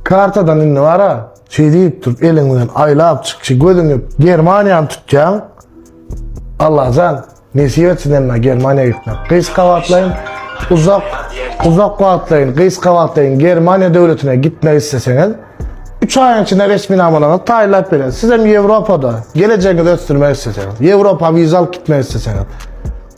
Kartadan indi bara şey diýip durup eliň bilen aýlap çyk şu gözüňi Germaniýany tutýaň. Allajan nesip etsin emme Germaniýa gitmek. Gyş gawatlaýyn uzak uzak wagtlaýyn gyş gawatlaýyn Germaniýa döwletine gitmek isleseňiz 3 aýyň içinde resminamalaryňy taýlap beren. Siz hem Ýewropada gelejegiňizi ösdürmek isleseňiz, Ýewropa wiza alyp gitmek isleseňiz.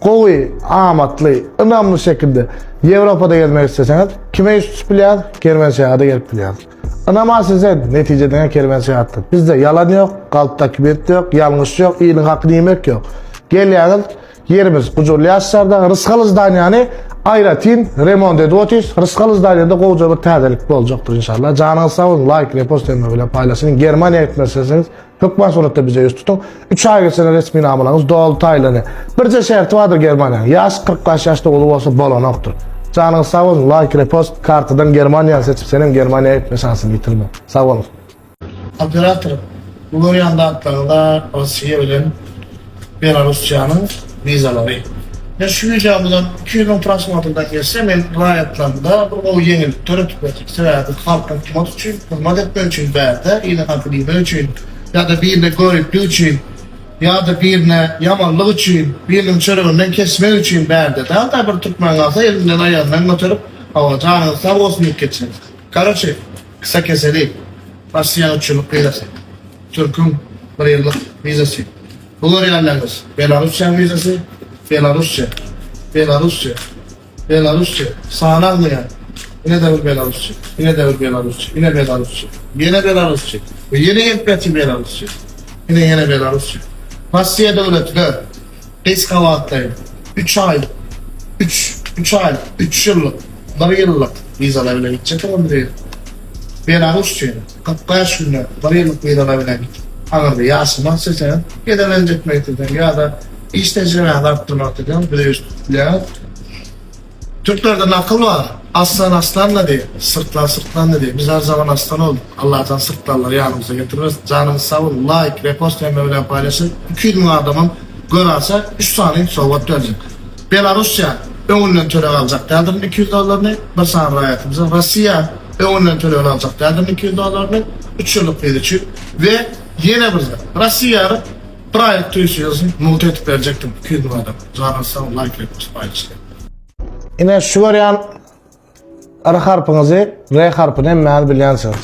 Gowy, amatly, ynamly şekilde Ýewropada gezmek isleseňiz, kime ýüz tutup bilýäris? Kerwenşahada gelip bilýäris. Ynamaýsy sen, netije diňe kerwenşahatda. Bizde ýalan ýok, galpdaky bet ýok, ýalňyş ýok, iliň hakyny iýmek ýok. Gelýäňiz, ýerimiz gujurly ýaşlarda, rysgaly zdaniýany aýratyn remont edip otyrys. Rysgaly zdaniýada gowja bir täzelik boljakdyr inşallah. Janyňyz sag bolsun, laýk, repost hem-ä bilen paýlaşyň. Germaniýa gitmek isleseňiz, Hökman suratda bize ýüz tutuň. Üç aý geçene resminamalaryňyz doly taýlany. Birje şerti bardyr Germaniýanyň. Ýaşy kyrk bäş ýaş doguly bolsa bolanokdyr. Janyňyz sag bolsun, laýk, repost, kartadan Germaniýany seçip senem Germaniýa gitme şansyny ýitirme. Sag boluň. Operator, bu görýän zatlaryňyz-a Rossiýa bilen Belarussiýanyň wizalary. Men şu wideo bilen iki ýüz müň prosmotrdan geçse, men raýatlarymda bir gowy ýeňillik döredip bilerin. Sebäbi halkyň tumat üçin hyzmat etmek üçin bärde, yzyňa bilmek üçin ýa-da birine göriplik üçin ýa-da birine ýamanlyk üçin, biriniň çöreginden kesmek üçin bärde dälda bir türkmen galsa elinden aýagyndan göterip hawa janyňyz sag bolsun diýip geçeris. Karoçe, kysakeseli, Rossiýanyň üçünlik wizasy. Türküň bir ýyllyk wizasy. Bu görýänleriňiz Belarusçäň wizasy. Belarusça. Belarusça. Belarusça. Sany agzaýar. Ine-de bir belarusça. Ine-de bir belarusça. Ine belarusça. Ýene belarusça. We ýene gelip ýatyr belarusça. Ine ýene belarusça. Russiýa döwletine gys gabatlaýyn üç aý, üç, üç aý, üç ýyllyk, bir ýyllyk wizalar bilen gitjek olar bu ýere. Belarusça. Kyrk bäş günde bir ýyllyk wizala bilen aňyrda ýaşamak isleseňiz, gezek gezek gitmek isleseňiz ýa-da iş tejribäňizi artdyrmak isleseňiz bize ýüztüp bilýäňiz. Türklerde nakyl bar, Aslan aslanda diýip, syrtlan syrtlanda diýip, biz her zaman aslan bolduk, Allajan syrtlanlary ýanymyza getirmesin. Janyňyz sag bolsun, laýk, repost hemme bilen paýlaşyň, iki ýüz müň adamam görase, üç sany sowgat berjek. Belarussiýa öňünden töleg aljak däldirin iki ýüz dollaryny, bir sany raýatymyzyň Rossiýa öňünden tölegini aljak däldirin iki ýüz dollaryny, üç ýyllyk wiza üçin we ýene bir zat, Rossiýanyň bir aýlyk tüýsüzini mugt edip berjek dim iki ýüz müň adam. Janyňyz sag, laýk retpus paýlaşdyň. Ine şu görýän R harpyňyzy, R harpyny hemmäňiz bilýänsiňiz.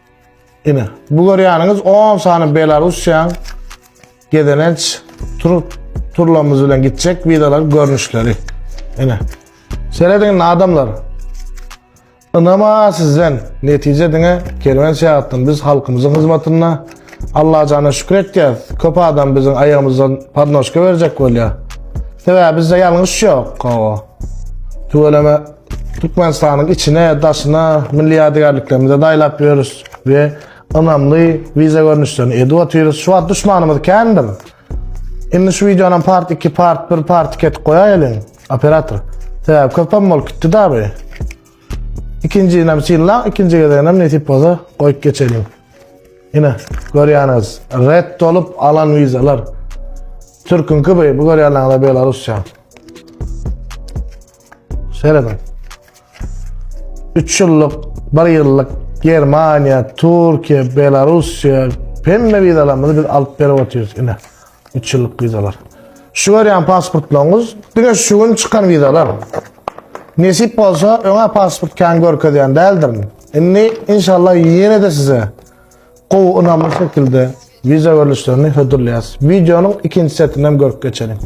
Ine, bu görýäniňiz 10 sany Belarussiýaň gezelenç tur turlarymyz bilen gitjek wideolar görnüşleri. Ine. Serediň adamlar. Ynama sizden netije diňe kerwen seýatdan biz halkymyzyň hyzmatynda Allah jana şükür etýäs. Köp adam biziň aýagymyzdan padnoşka berjek bolýar. Sebäbi bizde ýalňyş ýok. Tüweleme Türkmenistanyň içine, daşyna milli ýadygärliklerimizi daýlap ýörüs we ynamly wiza görnüşlerini edip otyrys. Şu wagt duşmanymyz kändir. Indi şu wideonam part 2, part 1, part 2 etip goýaýylyň, operator. Sebäbi köpem bolup gitdi-da bu. Ikinjini hem synlaň, ikinji gezegini hem nesip bolsa goýup geçeliň. Ine, görýäniz, red dolup alan wizalar. Türküňki bu, bu görýänleriňiz Belarusça. Serediň. 3 ýyllyk, 1 ýyllyk Germaniýa, Türkiýe, Belarusiýa hemme wizalarymyzy biz alyp berip otyrys ine. 3 ýyllyk wizalar. Şu görýän pasportlaryňyz diňe şu gün çykan wizalar. Nesip bolsa öňe pasport kan görkezýän däldirin. Indi inşallah ýene-de size gowy ynamly şekilde wiza görlüşlerini hödürleýäs. Wideonyň ikinji setinden görüp geçelim.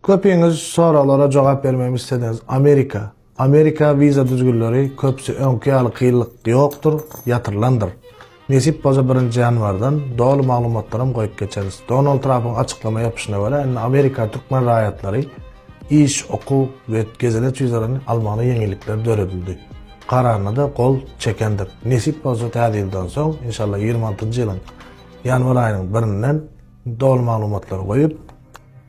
Köpiňiz soraglara jogap bermegimi isleseňiz Amerika, Amerika wiza düzgünleri köpüsi öňki ýaly kynlyk ýokdur, ýatyrylandyr. Nesip bolsa birinji ýanwardan doly maglumatlaram goýup geçeris. Donald Trapyň açyklama ýapyşyna görä indi Amerika türkmen raýatlary iş, okuw we gezelenç wizalaryny almagyna ýeňillikler döredildi. Kararynada gol çekendik. Nesip bolsa täze ýyldan soň inşallah ýigrimi altynjy ýylyň ýanwar aýynyň birinden doly maglumatlary goýup,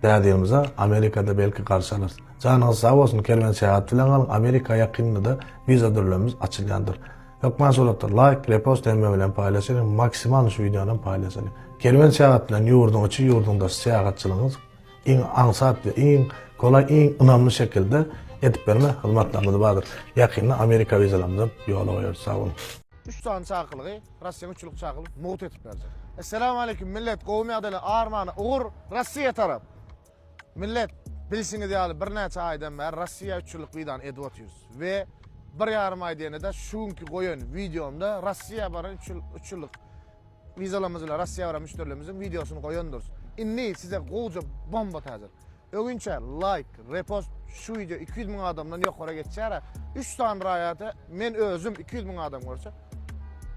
Däde ýylymyza Amerikada belki garşy alarys. Janyňyz sag bolsun Kerwen Seýat bilen galyň Amerika ýakynynda wiza dürlemimiz açylýandyr. Hökman suratlar laýk, repost hemme bilen paýlaşyň maksimal şu wideonam paýlaşyň. Kerwen Seýat bilen ýurduň içi ýurduň daşy syýahatçylygyňyz iň aňsat we iň golaý iň ynamly şekilde edip berme hyzmatlarymyz bardyr. Ýakynda Amerika wizalarymyzam ýola goýarys sag boluň. Üç sany çakylygy. Russiýa üçlük çagylyp mugt etip berjek. Esselamu aleyküm millet gowy ýagdaýly armana ugur Russiýa tarap. Millet bilşiňiz ýaly birnäçe aýdan bäri Russiýa üçlük widan edip otyrys we bir ýarym aý diýende-de şu günki goýan wideomda Russiýa bara üçlük wizalamyz bilen Russiýa baran müşderilerimiziň wideosyny goýandyrys. Indi size gowja bomba täjir. Öňinçä laýk, repost şu wideo iki ýüz müň adamdan ýokara geçýär-ä. Üç sany raýata men özüm iki ýüz müň adam görse,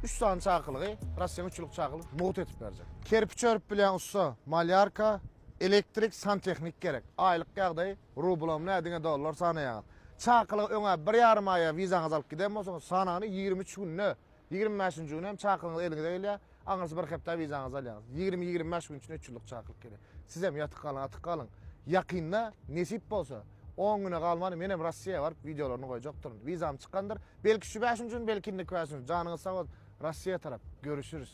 üç sany çakylygy, Russiýanyň üç ýyllyk çakylygy mugt edip berjek. Kerpiç örüp bilýän ussa, malýarka, elektrik, santehnik gerek. Aýlyk ýagdaýy rublamy nä diňe dollar sanaýaňyz. Çakylygy öňä bir ýarym aýa wizaňyzy alyp giden bolsaňyz, sanany ýigrimi üç günde Ýigrimi bäşinji günem çakylygyňyz eliňize gelýär. Aňyrsy bir hepdä wizaňyzy alýaňyz. Ýigrimi-ýigrimi bäş gün içinde üç ýyllyk çakylyk gelýär. Sizem ýatyk galyň, atyk galyň. Ýakynda, nesip bolsa, on güne galman menem Rossiýa baryp wideolaryny goýjakdyryn. Wizam çykandyr. Belki şu bäşinji gün, belki indiki bäşinji gün. Janyňyz sag bolsun. Rossiýa tarap. Görüşüris.